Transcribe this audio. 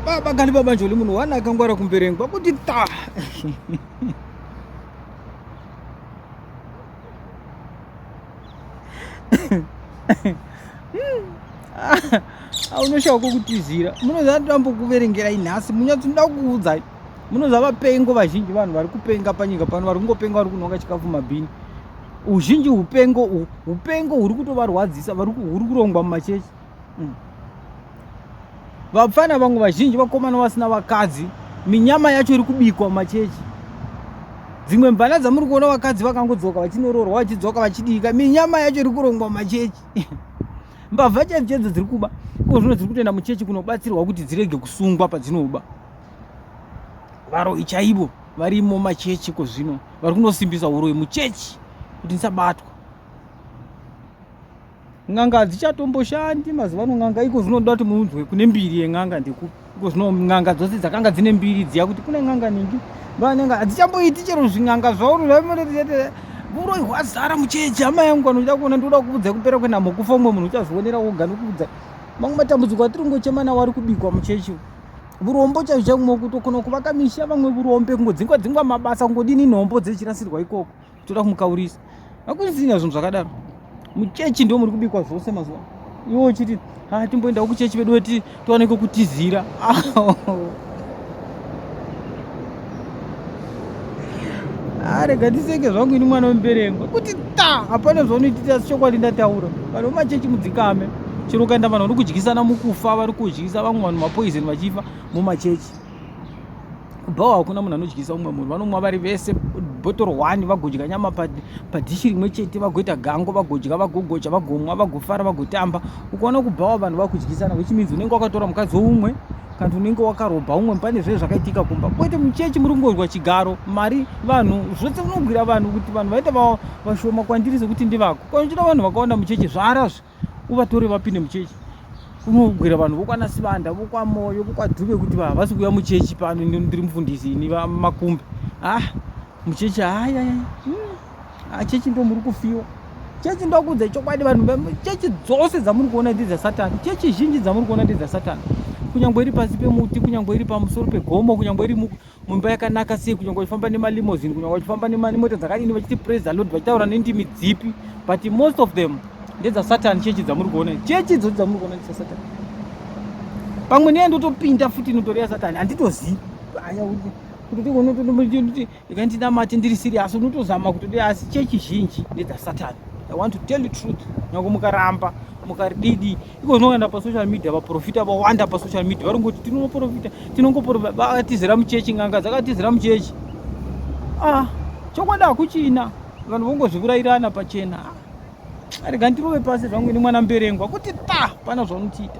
baba kani baba njoli munhu wana akangwara kumberengwa kuti ta aunoshawa kwokutizira munoziva ndambokuverengera inhasi munyatsi ndoda kuudzai munoziva vapengo vazhinji vanhu vari kupenga panyika pano vari kungopenga vari kunonga chikafu mabhini uzhinji upengo upengo huri kutovarwadzisa huri kurongwa mumachechi mm. vapfana vamwe vazhinji vakomana vasina vakadzi minyama yacho iri kubikwa mumachechi dzimwe mvana dzamuri kuona vakadzi vakangodzoka vachinoroorwa vachidzoka vachidika minyama yacho iri kurongwa mumachechi mbavha chaidzo chaidzo dziri kuba ko zvino dziri kutoenda muchechi kunobatsirwa kuti dzirege kusungwa padzinoba varoyi chaivo varimo machechi ko zvino vari kunosimbisa uroyi muchechi kuti ndisabatwa N'anga hadzichatomboshandi mazuva ano n'anga iko zvinoda kuti muunzwe kune mbiri yen'anga ndekupi iko zvino n'anga dzose dzakanga dzine mbiri dziya kuti kune n'anga ningi van'anga hadzichamboiti chero zvin'anga zvauri zvaimonetete uroi hwazara muchechi hama yangu vanoda kuona ndinoda kukudza kupera kwenhamo kufa umwe munhu uchazvionera woga nokudza mamwe matambudziko atiri kungochema nawo ari kubikwa muchechi vurombo chaizvo chaimwe kutokona kuvaka misha vamwe vurombe kungodzingwa dzingwa mabasa kungodini nhombo dzechirasirwa ikoko toda kumukaurisa hakusina zvinhu zvakadaro muchechi ndo muri kubikwa zvose mazuva iwo uchiti ha timboendawo kuchechi vedu weti tiwaneko kutizira arega tiseke zvangu ini mwana wemuberengwa kuti ta hapana zvaunoititi asi chokwadi ndataura vanhu vemachechi mudzikame chero ukaenda vanhu vari kudyisana mukufa vari kudyisa vamwe vanhu mapoizeni vachifa mumachechi bhawa hakuna munhu anodyisa umwe munhu vanomwa vari vese botoro one vagodya nyama padhishi rimwe chete vagoita gango vagodya vagogocha vagomwa vagofara vagotamba ukaona kubhawa vanhu vakudyisana which means unenge wakatora mukadzi woumwe kana unenge wakarobha umwe pane zve zvakaitika kumba kwete muchechi muri kungonzwa chigaro mari vanhu zvose unogwira vanhu kuti vanhu vaita vashoma kwandiri sekuti ndivako kana uchida vanhu vakawanda muchechi zvaarazve uvatore vapinde muchechi kunogwira vanhu vokwana sivanda vokwamoyo vokwadhuve kuti havasi kuuya muchechi pano ndiri mufundisi ini vamakumbe ah muchechi haya hmm. ah, chechi ndo muri kufiwa chechi ndokuudza chokwadi vanhu chechi dzose dzamuri kuona ndi dzasatani chechi zhinji dzamuri kuona ndi dzasatani kunyange iri pasi pemuti kunyange iri pamusoro pegomo kunyange iri mumba yakanaka sei kunyange vachifamba nemalimozini kunyange vachifamba nemota dzakadini vachiti praise the lord vachitaura nendimi dzipi but most of them ndedzasatan chechi dzamuri kuona chechi idzoti dzamuri kuona ndisasatan pamwe neya ndotopinda futi inotori yasatan handitozivi aya kuti ikandinamati ndiri sirias unotozama kuti asi chechi zhinji ndedzasatan i want to tell you truth nyange mukaramba mukarididi iko zvinoenda pasocial media vaprofita vawanda pasocial media vari ngoti tinoprofita tinongoprofita vakatizira muchechi nganga dzakatizira muchechi ah chokwadi hakuchina vanhu vongozvivurairana pachena ah, rega ndirove pasi zvangu ini mwana mberengwa kuti ta pana zvaunotiita